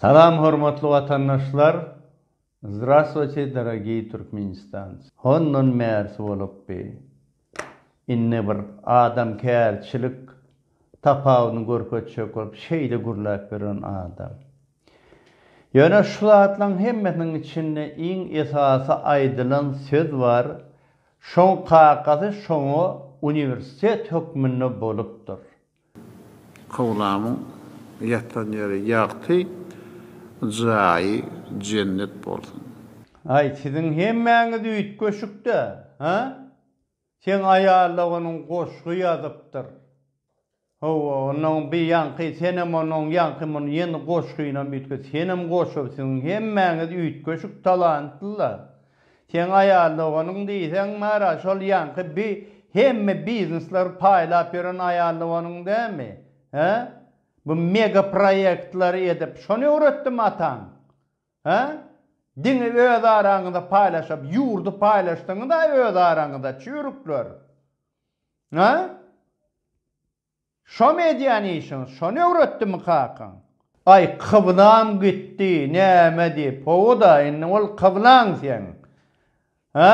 Salam hormatly watandaşlar Zdrastvoyte dorogiý Türkmenistanc hondan bärsi bolupdy indi bir adam kärçilik tapawudyny görkezjek bolup şeýle gürläp ýören adam. Ýöne şu zatlaryň hemmesiniň içinde iň esasy aýdylan söz bar, şoň kakasy şoňa uniwersitet hökmünde bolupdyr. Kowlamyň ýatan ýeri ýagty, jaýy jennet bolsun. Aý siziň hemmäňiz üýtgeşikdä, hä? Seň aýal-a onuň goşgy ýazypdyr. Hawa, onda oň bir ýaňky, senem onda oň ýaňky muny ýene goşgynam üýtget, senem goşupsyň, hemmäňiz üýtgeşik talantly-la. Seň aýal-a onuň diýseň bar-a, şol ýaňky bi, hemme biznesleri paýlap ýören aýal-a onuň dämi? Hä? Bu mega proýektleri edip, şony öwretdimi ataň? Hä? Diňe öz araňyzda paýlaşyp, ýurdy paýlaşdyňyz-a öz araňyzda, çüýrükler. Hä? Şomy edýän işiňiz, şony öwretdimi kakaň? Aý, kyblam gitdi, näme diýip, hawa-da, indi ol kyblaň seň. Hä?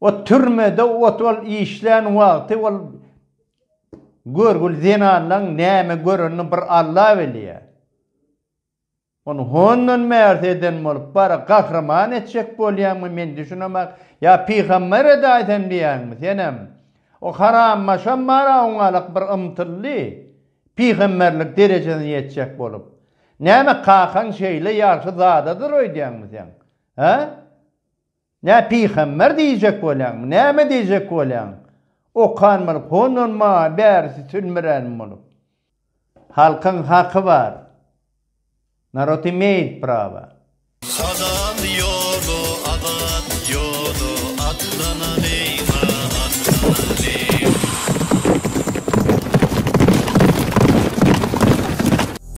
Ot türmede ot ol işlän wagty ol görgül zenanlaň näme görenini bir Alla bilýä. Ony hondan bärde eden bolup bar gahryman etjek bolýaňmy men düşünemak ýa pygambere de aýtan diýýäňmi senem. O harambaşam bar awňalak bir ymtyldy pygamberlik derejesine ýetjek bolup. Näme kakaň şeýle ýagşy zadadyr öýdýäňmi sen? Hä? Nä pygamber diýjek bolýaňmy, näme diýjek bolýaň? Okan bolup, hondan maňa bärisi sülmüränim bolup. Halkyň haky bar. Narod imeýt prawa. Halal ýola azat ýola atlanaly ma atlanaly.